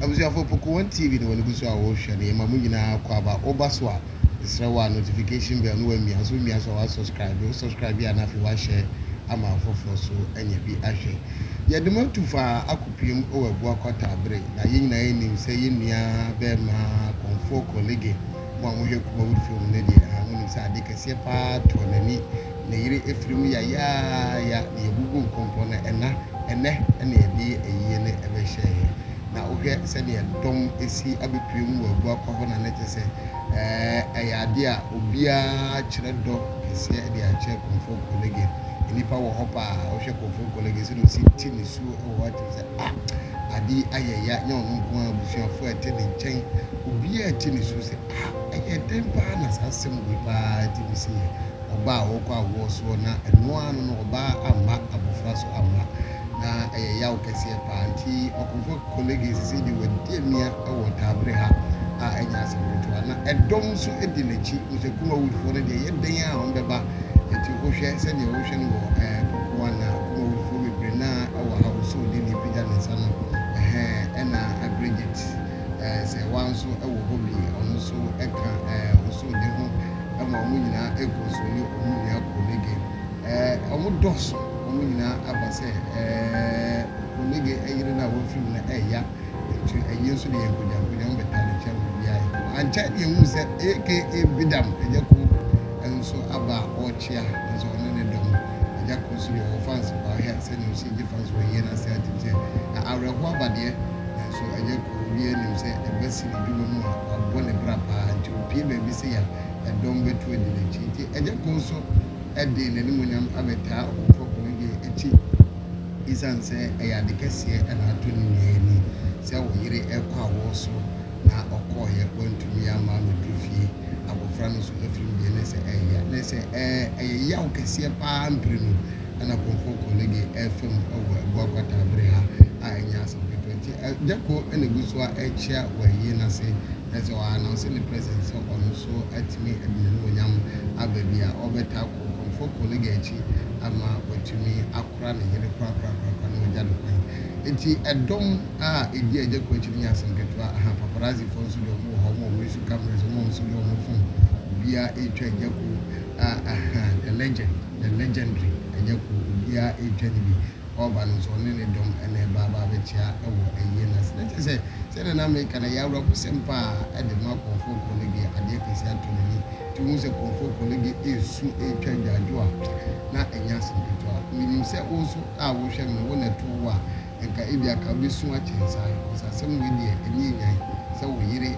Abusuafo poko wɔn TV ne wɔn ani gu so a wɔrehwɛ no, yɛma mo nyinaa akwaaba. Wo ba so a, mesrɛ wo a notification bell no wamia nso womia so a wa subscribe, wo subscribe a na afei wa share ama afoforɔ nso anya bi ahwɛ. Yɛde mo atu fa akɔpiem wɔ abua kwata bere na yɛn nyinaa yɛnim sɛ yɛn nua barima Kɔmfoɔ Korlige mo a mohwɛ Kumawudifie mu no deɛ, ahaa, monim sɛ adeɛ kɛseɛ paa tɔɔ n'ani ne yere afiri mu yayaaya na yɛabubu nkonko no, ɛna ɛnnɛ na yɛde yɛ ayie no bɛhyɛɛ yɛn. Na wohwɛ sɛdeɛ dɔm asi abɛpue mu wɔ Agua Kwa hɔ no a, na kyerɛ sɛ ɛyɛ adeɛ a obiara kyerɛ dɔ kɛseɛ de akyerɛ Komfo Kolegin. Nnipa wɔ hɔ paa a, wohwɛ Komfo Kolegin sɛdeɛ ɔsi te nisuo wɔ hɔ a, kyerɛ sɛ ah, ade yi ayɛ ya, nyɛ ɔno nko ara, abusuafoɔ a ɛte ne nkyɛn, obiara te nisuo sɛ. Ha, ɛyɛ dɛn paa na saa asɛm wei paa gye di sɛ yɛ ɔbaa a ɔrekɔ awoɔ soɔ na ɛno ara no no ɔbaa amma abɔfra so amma, na ɛyɛ yaw kɛseɛ paa. Nti Ɔkomfoɔ Kolege seesei deɛ wadi amia wɔ Tabre ha a ɛnyɛ asɛm ketewa na ɛdɔm nso di n'akyi. Wosɛ Kumawudfoɔ no deɛ ɛyɛ dɛn ara a wɔbɛba. Nti wohwɛ sɛdeɛ wohwɛ no wɔ ɛɛ Pokuan a Kumawudfoɔ bebree no ara wɔ ha, Osoo deɛ deɛ apagya ne nsa no, ɛhɛɛ, ɛna Bridget. eh, sɛ woa nso wɔ hɔ bi, ɔno nso ka eh, osomde ho eh, ma wɔn nyinaa kɔ so ne wɔn nua Konege eh, wɔn dɔɔso, wɔn nyinaa aba sɛ eh, Konege yere no a wafiri mu no ɛya, nti ɛyi nso de yɛ nkogyankogya, wɔn bɛtaa ne nkyɛn wɔ biribiara yɛ kama. Ankyɛ ne yɛhuu sɛ aka Bidam, agya ko nso aba a ɔrekyea, nanso ɔne ne dɔm, agya ko nso deɛ ɔwɔ fans paa, hwɛ sɛdeɛ ɔsi gye fans wɔ yie no ase atim sɛ, na awerɛhoɔ aba deɛ, So ɛnyɛ koro? Obiara nim sɛ ɛba si n'adwuma mu a, wabɔ ne bra paa nti opue baabi sei a, ɛdɔm bɛtu adi n'akyi. Nti ɛnyɛ koro nso de n'animuonyam abɛtaa ɔfoforɔ koro deɛ akyi esiane sɛ ɛyɛ ade kɛseɛ na ato ne nua ani sɛ wo yere rekɔ awoɔ so na ɔkɔeɛ wantumi amma ammɛduru fie, abɔfra no nso afirim deɛ na ɛsɛ ɛyɛ ya. Na ɛsɛ ɛɛ ɛyɛ yaw kɛseɛ paa mprenu. na Kɔmfɔ Kolege refa mu wɔ Agua Kwata bere ha a ɛnyɛ asɛm ketewa nti Agyako na egu so a ɛrekyea wɔ ayie no ase na sɛ ɔ announce ne presence sɛ ɔno nso atumi de n'animuonyam aba baabi a ɔbɛtaa kɔ Kɔmfɔ Kolege akyi ama watumi akora ne yere korakorakorakora na wagya no kwan nti ɛdɔm a edi Agyako akyi no nyɛ asɛm ketewa aha paparazzi foɔ nso deɛ wɔn wɔ hɔ wɔn a wɔn resu cameras wɔn a wɔn nso deɛ wɔn phone obiara retwa Agyako a aha the legend. The legendary ɛnyɛ koro obiara retwa no bi ɔreba no nso ɔne ne dɔm na ɛreba aba abɛkyea wɔ ayie no ase na kyerɛ sɛ sɛdeɛ na meka no ɛyɛ awerɛhosɛm paa de ma Komfo Okono deɛ adeɛ kɛseɛ ato n'ani nti wohu sɛ Komfo Okono deɛ ɛresu ɛretwa adwaadwo a na ɛnyɛ asɛm ketewa menim sɛ wo nso a wohwɛ me no wo na ɛto wo a Anka ebia ka wubesu akyɛn saa, efisɛ asɛm wei deɛ, ani nnyae, sɛ wo yere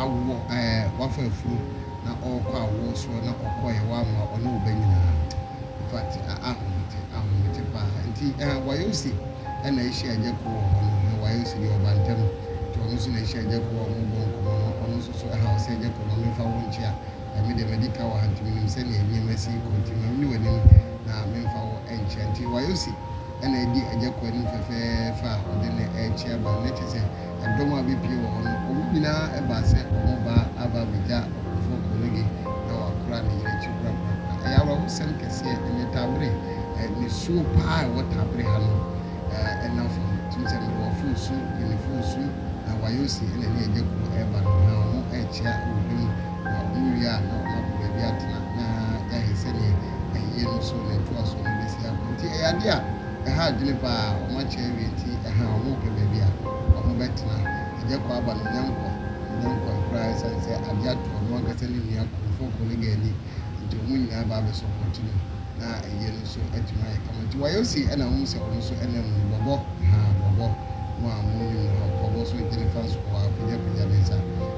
awo ɛɛ, wafa afurum na ɔrekɔ awoɔ soɔ na ɔkɔeɛ, wamma ɔne wo ba nyinaa. In fact, ahomete, ahomete pa ara. Nti ɛɛ, Wayosi na ahyia Agya Koo wɔ hɔ no, na Wayosi deɛ ɔba ntɛm, nti ɔno nso na ahyia Agya Koo a wɔrebɔ nkɔmmɔ no, ɔno nso so ɛhaw sɛ, Agya Koo, ma memfa wo nkyea, ɛɛ, me deɛ madi ka wɔ ha, nti menim sɛdeɛ nneɛma si rekɔ, nti ma menni w'anim na memfa wo nkyea. Nti Wayosi. na adi Agya kwan no mu fɛfɛɛfɛ a ɔde no rekye aba no, na kyerɛ sɛ, ɛdɔm a ɛbɛpue wɔ hɔ no, wɔn nyinaa ɛbaa sɛ wɔn ba aba abɛgya ɔkɔfoɔ Kɔrnelio na wɔakora ne yere akyi korakorakora. Ɛyɛ awerɛhosɛm kɛseɛ, ɛnyɛ Tabere, ɛɛ, nisuo pa ara a ɛwɔ Tabere ha no, ɛɛ, ɛnna fam. Wotim sɛ mede wɔforo su, Guineafoo su, na Wayoosi na ɛne Agya kuo ɛreba no, na wɔn rekyea wɔ dwa mu, na wɔn wie a na wɔn akɔ baabi atena, na yɛahwɛ sɛdeɛ. ayie no so na ɛtoa so no bɛsi akɔ. Nti ɛyɛ adeɛ a ɛha adwene pa ara. Wɔakyɛ awie nti ɛha a wɔrepɛ baabi a wɔbɛtena. Agya Kɔ aba no nyankwa nyankwa koraa ɛsiane sɛ adeɛ ato ɔno ankasa ne nua Kurofo Kɔ no gaani nti wɔn nyinaa aba abɛsɔpɔte no na ayie no nso atumi ayɛ kama. Nti wɔayɛ osi na wohu sɛ wɔn nso nam mu no bɔbɔ, haa bɔbɔ, mo a monnim no ha, bɔbɔ nso gyene fa nso kɔ hɔ ara, pagyapagya ne nsa.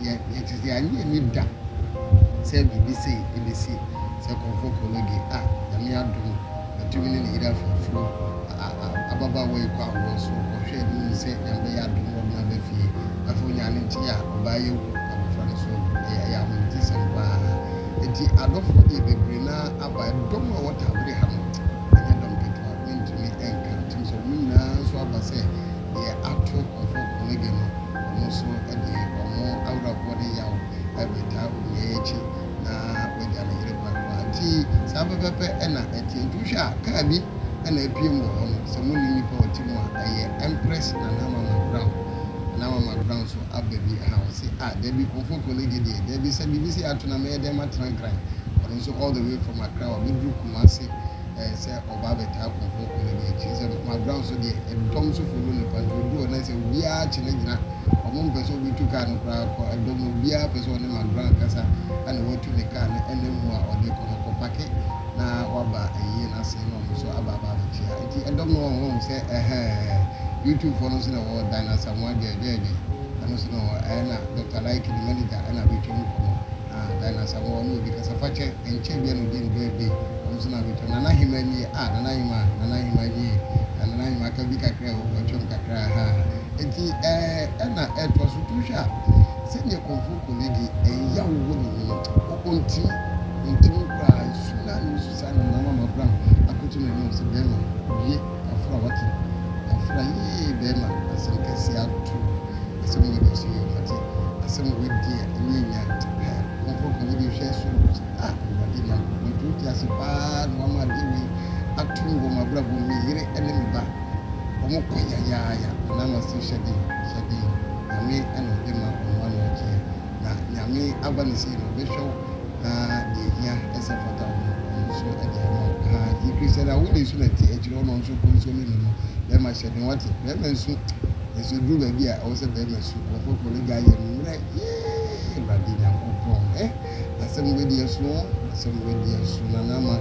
Yɛ yɛte sɛ yɛannye anni da sɛ biribi sei ɛbɛsi sɛ nkurɔfoɔ kɔ no deɛ a Nyame adom matumi ne ne yere afoforo a a a ababaawa yi kɔ awoɔ so ɔhwɛ ne hu sɛ Nyame bɛyɛ adom na ɔde no aba fie afei ɔnyaa no nkyɛe a ɔbaa yi awu abɔfra no so awu ɛyɛ ɛyɛ ahometesɛm paa enti adɔfoɔ deɛ bebree no ara aba ɛdɔm a wɔtaa bere ha no ɛnyɛ dɔm ketewa mentumi ɛnka ntim sɛ wɔn nyinaa nso aba sɛ deɛ ato ɔfo Omege no, wɔn nso de wɔn awerɛhoɔ ne yaw retaa onua yi akyi na wagya ne yere kwakoa. Nti saa pɛpɛpɛ na ɛteɛ. Nti wohwɛ a, kaa bi na apue mu wɔ hɔ no, sɛ monni nnipa a wɔte mu a, ɛyɛ Empress Nana Mama Brown. Nana Mama Brown nso aba bi ha, ɔse, Ah, dabi, Ɔfo Konege deɛ, dabi, sɛ biribi sei ato no a, mɛyɛ dɛn matena Nkran? Ɔno nso all the way from Accra, wabɛduru Kumasi. ɛɛ sɛ ɔba abɛtaa kuropɔn ko no deɛ ɛkyerɛ sɛ no mabrao so deɛ ɛdɔm so folo no pa nti ɔduu hɔ na sɛ obiara kye no gyina ɔmo mpɛ sɛ ɔbi tu kaa no koraa kɔ ɛdɔm no obiara pɛ sɛ ɔne mabrao ankasa ɛna watu ne kaa no ɛna mu a ɔde kɔ no kɔ pake na waba ayie no ase na ɔmo so aba aba abɛkyea nti ɛdɔm no wɔn wɔn sɛ ɛhɛɛ YouTube foɔ no nso na wɔwɔ dan asamoa dɛɛdɛɛdɛ ɛno nso no ɛna Dr. Like ne manager ɛna abɛtwa mu kɔ no Ah Diana Asamoah ɔne obi kasa fa kyɛ ɛnkyɛ bia na ɔdi ne birthday ɔno nso na abɛtwam Nana Ahemaa nie ah Nana Ahemaa Nana Ahemaa nie ah Nana Ahemaa ka bi kakra o watwam kakra ahaa Ɛnti ɛɛ ɛna ɛtoa so tu hwɛ a sɛdeɛ Komfo Kolege ɛya wo hɔ no mu no o ɔntim ɔntim koraa nsu no ara na ɔsu saa Nana Mama Brown akɔto n'anim sɛ bɛɛma wie. Afra wate. Afra yie bɛɛma asɛm kɛseɛ ato asɛm wei deɛ so yie mate asɛm wei deɛ nyɛ nya hɛ momfa ɔkɔ nyɛ bi hwɛ soro hɔ sɛ ah awurade nyankopɔn nti wote ase paa na wama adeɛ wei atom wɔ mabrabɔ mu me yere ne me ba ɔmo kɔ yayaaya anaa mase hyɛden hyɛden nyame na ɔde ma ɔmo ano agyeɛ. Na Nyame aba no sei no ɔbɛhwɛ wo na deɛ ɛhia ɛsɛ fata wo no ɔno nso de ama wo haa yɛ Christian a wode nsu na ɛte akyire hɔ na ɔno nso kɔ nsuo no nom bɛrima hyɛ den wate bɛrima nsu nso ɛduru baabi a ɛwɔ sɛ bɛrima su ɔkɔkɔ no gya yɛ no mmerɛ yee awurade nyankopɔn eh asɛm wei deɛ ɛsono asɛm wei deɛ ɛsono na na ama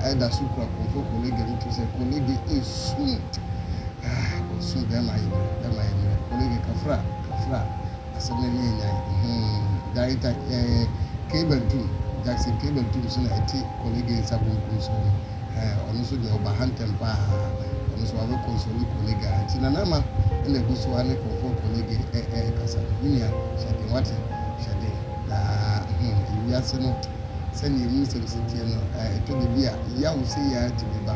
ɛda so kura kɔmfɔ kɔlega no to sɛ kɔlega ɛsum ah ɔsum bɛrima yɛ mmerɛ bɛrima yɛ mmerɛ kɔlega kafra kafra Asɛm no ne Nyan! Huu! Gary Tag eh, Kay Bantum, Jackson Kay Bantum nso na ɛte Kolege nsa bonkum so no eh, ɔno nso deɛ ɔba ha ntɛm paa, ɔno nso wabɛ console Kolege a nti Nana Ama na ɛgu so ara ne Komfoɔ Kolege eh eh kasa no, me nua hyɛ den wate, hyɛ den na hmm ewiase no sɛdeɛ emu nsɛm si teɛ no eh, ɛtɔ da bi a yaw sei ara tumi ba.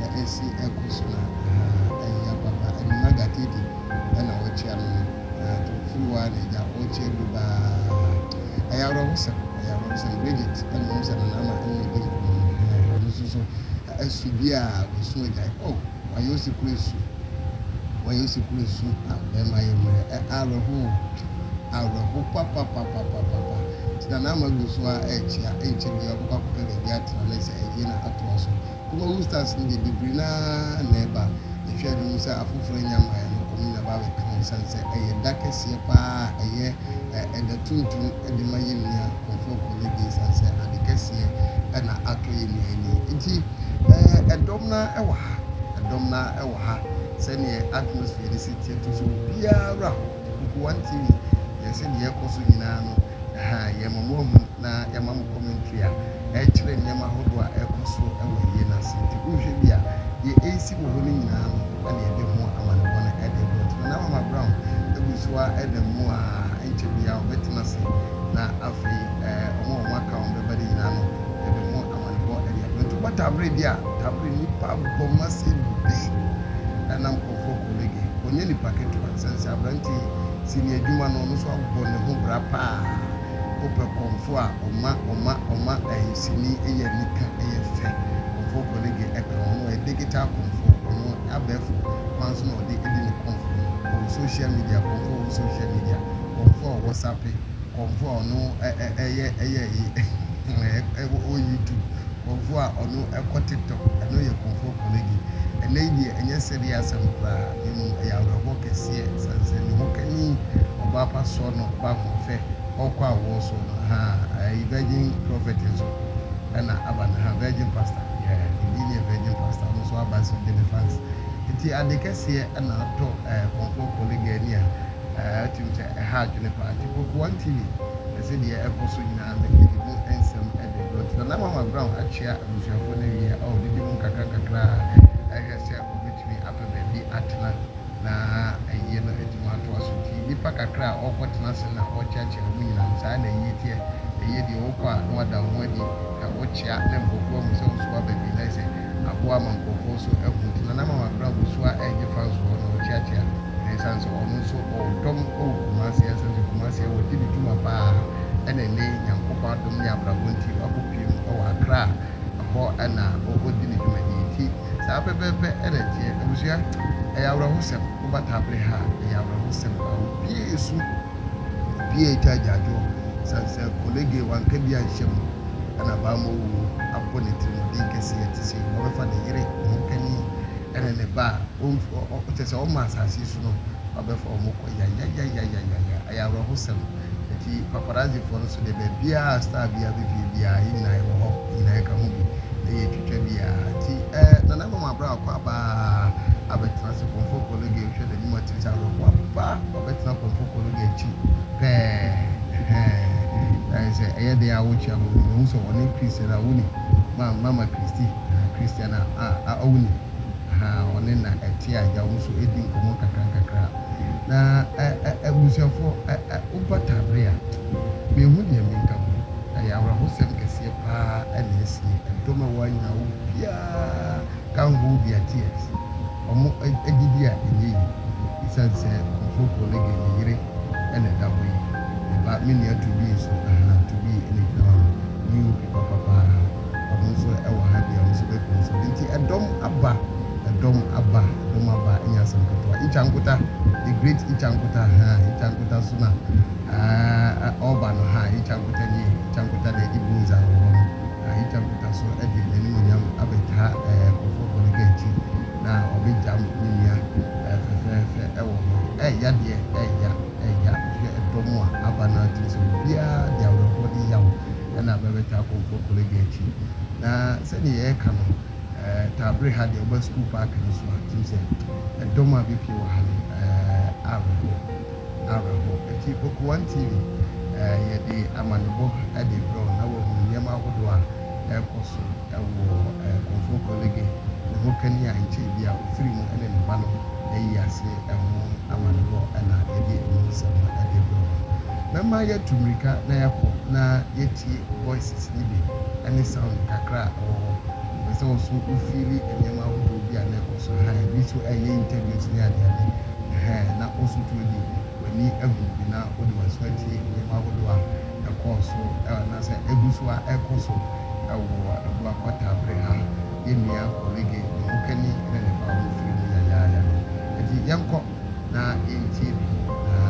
na esi agu so na ayi aba ba ɛno na gatedi na ɔrekyea no no nti ofiri hɔ a na agya ɔrekyea du ba ɛyɛ awerɛhosɛm ɛyɛ awerɛhosɛm Bridget na menim sɛ no na ama ɛne no di nkɔmmɔ no ɔno nso so asu bi a ɔresu agyae oh wayɛ osekura asu wayɛ osekura asu a bɛrima yɛ mmerɛ ɛ awerɛho awerɛho papapapapapa nti na na ama gu so a ɛrekyea ɛnkyɛ bi a ɔbɛkɔ akɔpɛ baabi atena na sɛ ayie no atoa so Wobɔ mustard seed a, bebree no ara na ɛba. Yɛhwɛ a, yɛbɛhu sɛ afoforo anya ma ɛno wɔn na ɛba abɛka ho esiane sɛ ɛyɛ da kɛseɛ pa ara a ɛyɛ ɛda tuntum de ma yɛn nua nkurɔfoɔ koro no bi esiane sɛ ade kɛseɛ na atɔ yɛn nua yi ni. Enti, ɛdɔm no ara wɔ ha. Ɛdɔm no ara wɔ ha. Sɛdeɛ atmosphere no si teɛ, to sɛ obiara wura hɔ. Mpo wɔn TV yɛn sɛ nea ɛrekɔ so nyinaa no ha yɛn mmɔborohunu na yɛma mo commentary a ɛkyerɛ nneɛma ahodoɔ a ɛrekɔ so wɔ ayie no ase. Nti wohwɛ bi a, deɛ ɛresi wɔ hɔ no nyinaa no na yɛde ho amanebɔ no de rebrɛ wo. Nti Nana Mama Brown gu so ara da mu a, ɛnkyɛ biara ɔbɛtena ase na afei wɔn a wɔaka a wɔbɛba no nyinaa no yɛde ho amanebɔ de abrɛ. Nti wobɔ tabere bi a, tabere nnipa bɔ ma sɛ bi na nkurɔfoɔ kɔ reggae. Ɔnyɛ nipa ketewa. Ɛsiane sɛ aberante yi si ne adwuma no, ɔno nso abɔ ne ho bra paa. Wopɛ kɔmfo a, ɔma, ɔma, ɔma ahisini, ɛyɛ anika, ɛyɛ fɛ. Kɔmfo Collegue ka ho, na ɔyɛ digital kɔmfo, ɔno abɛɛfo kwan so na ɔde di ne kɔmfo no. Ɔwɔ social media, kɔmfo a ɔwɔ social media, kɔmfo a ɔwɔ sape, kɔmfo a ɔno yɛ, ɛyɛ ayi, ɛwɔ YouTube, kɔmfo a ɔno kɔ TikTok, ɛno yɛ kɔmfo Collegue. Ɛnnɛ yi deɛ, ɛnyɛ sɛdeɛ asɛm koraa. Emu yɛ awerɛhoɔ kɛseɛ sane sɛ ne ho kani ɔbaa pa soɔ no ba ho fɛ ɔkɔ awoɔ soɔ no haa ɛyi virgin prophet nso ɛna aba no haa virgin pastor yeah ɛbi neɛ virgin pastor no nso aba nso gyene fans nti ade kɛseɛ ɛna atɔ ɛɛ kɔmfoɔ kɔlega ani a ɛɛ ɔtim sɛ ɛha adwene paa nti koko one tv ɛsɛ deɛ ɛkɔ so nyinaa no yɛde mu nsɛm ɛde brɔ nti nana mama brown akyea abusuafoɔ no awie a ɔɔ didi mu nkakra nkakra a ɛhwɛ sɛ ɔbɛtumi pɛ baabi atena na ayie no atumi atoa so. Nti nnipa kakra a wɔrekɔtena ase na wɔrekyeakyea wɔn nyinaa no, saa ara na ayie teɛ. Ayie deɛ, wokɔ a na wɔada wo ho adi na wokyea na nkurɔfoɔ ahu sɛ wo nso woaba bi na ayɛ sɛ aboa ama nkurɔfoɔ nso ahu. Nti Nana Mama koraa ɔbɛsu a ɛregye fa nso hɔ na ɔkyeakyea na ɛsiane sɛ ɔno nso ɔwɔ dɔm wɔ Kumasi a ɛsiane sɛ Kumasi a wɔdi ne dwuma pa ara na ɛnnɛ yi Nyankopɔn adom ne abrabɔ nti wakɔpue mu wɔ Accra a ɛhɔ na ɔdi ne dwumadi nti saa pɛpɛɛpɛ na ɛteɛ. Abusua, ɛyɛ awerɛhosɛm. Woba Tabre ha a, ɛyɛ awerɛhosɛm paa. Obiara resu, obiara retwa agyaadwoɔ sane sɛ College wanka bi anhyɛ mu na Bammɔwu abɔ n'atirimuɔden kɛseɛ te sei. Wabɛfa ne yere, ne ho kani ne ne ba a ɔmfi ɔ ɔ kyerɛ sɛ ɔmma asase yi so no, wabɛfa wɔn kɔ. Yayayayayaya! Ɛyɛ awerɛhosɛm. Ntsi paparazzi-fo no so dɛ, beebiara a star biara bepue biara, hɛn nyina yɛwɔ hɔ, hɛn nyina yɛka ho bi na yetwitwa bi a. Ntsi eh, nananom aber a ɔkɔ aba a abɛtsena ase pɔmpɔ kologe, ehwɛ dɛ no mu atsir tse awerɛhow a, papa, ɔbɛtsena pɔmpɔ kologe ekyir pɛɛ, eh-hɛn, ayɛ sɛ ɛyɛ dɛn a wokyia hɔn no, wohu sɛ ɔnye Christian a woni, ma, Mama Christie, eh-hɛn, Christian a, a, a, woni, eh-hɛn, ɔne na ɛtse a, egya hom so edi nkɔmbɔ nkakrankakra. Na abusuafo, woba Tabre a, minhu nea menka ho. Ɛyɛ awerɛhosɛm kɛseɛ paa na asie. Ɛdɔm a ɛwɔ ha nyinaa, obiara ka ho wɔ bia tears. Wɔn gyidie a ɛnyɛ yie ɛsiane sɛ Kofotuo no deɛ ne yere na ɛda hɔ yi. Me ba, me nua Tobi nso, ahaa, Tobi na ɛgyina hɔ no, new people papa. ɔno nso wɔ ha bi a ɔno nso bɛpene nso bi nti ɛdɔm aba ɛdɔm aba ɛdɔm aba ɛnyɛ asɛm ketewa Icha Nkuta the great Icha Nkuta ha Icha Nkuta nso na uh, ɔba no ha Icha Nkuta nie Icha Nkuta na ɛdi Bunza wɔ hɔ no uh, Icha Nkuta nso ɛde n'animonyam abɛtaa uh, Kofo Bɔnega akyi na ɔbɛgyam ne nua uh, fɛfɛɛfɛ ɛwɔ hɔ ɛɛya deɛ ɛɛya ɛɛya wohwɛ ɛdɔm a aba no atiri sɛ obiara de awerɛhoɔ de yaw na bɛbɛtaa kɔ Nkokolo Agya akyi. Na sɛdeɛ yɛreka no, taa bere ha deɛ woba Sukuu Paake no so a, wotim sɛ ɛdɔm a bɛpie wɔ ha no, awerɛhoɔ, awerɛhoɔ. Enti Oko One TV, yɛde amanebɔ de rebrɛ wo na woahunu nneɛma ahodoɔ a ɛrekɔ so. wɔ Komfo Kolege ne ho kani a nkyɛe bi a ofiri mu ne ne ba no ayi ase ho amanebɔ na yɛde emu nsɛm no de rebrɛ wɔn. Mɛma yɛatu mmirika na yɛakɔ na yɛatie Voices no bi ne Sound kakra a ɛwɔ hɔ. Mepɛ sɛ wo nso wo fiili nneɛma ahodoɔ bi a na ɛkɔ so hann, ebi nso yɛ interviews ne adeade hann na wo nso tumi de w'ani ahunu bi na wode w'aso atie nneɛma ahodoɔ a ɛkɔɔ so anaasɛ ɛgu so ara ɛrekɔ so Wɔ Aboa Kwata bere ha, yɛn nua Orege, ne hokani ne ne ba a wɔmfiri mu yɛ ayaaya no. Enti yɛnkɔ na yɛntie bi na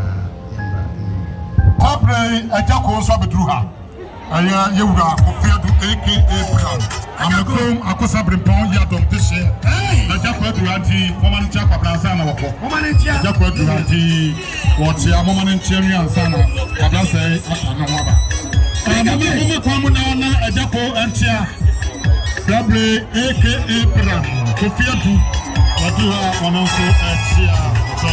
yɛmmra anim bio. Saa bere yi Agya Koo nso abeduru ha. Ɛyɛ yɛn wura Kofi Adu aka Brown a Mekrom Akosa Brempɔn yi adom de hye. Agya Koo aduru ha nti, momma no nkyɛ Akwabrasɛn na wɔkɔ. Agya Koo aduru ha nti. wɔteɛ moma no nkyeɛ nwe ansa na ɔdasɛe ata ne ho aba moma moma kwan mu na ɔna agya ko nkyea dabre aka bra kofi adu wɔdi hɔ a wɔno nso ɛkyea ɔtɔ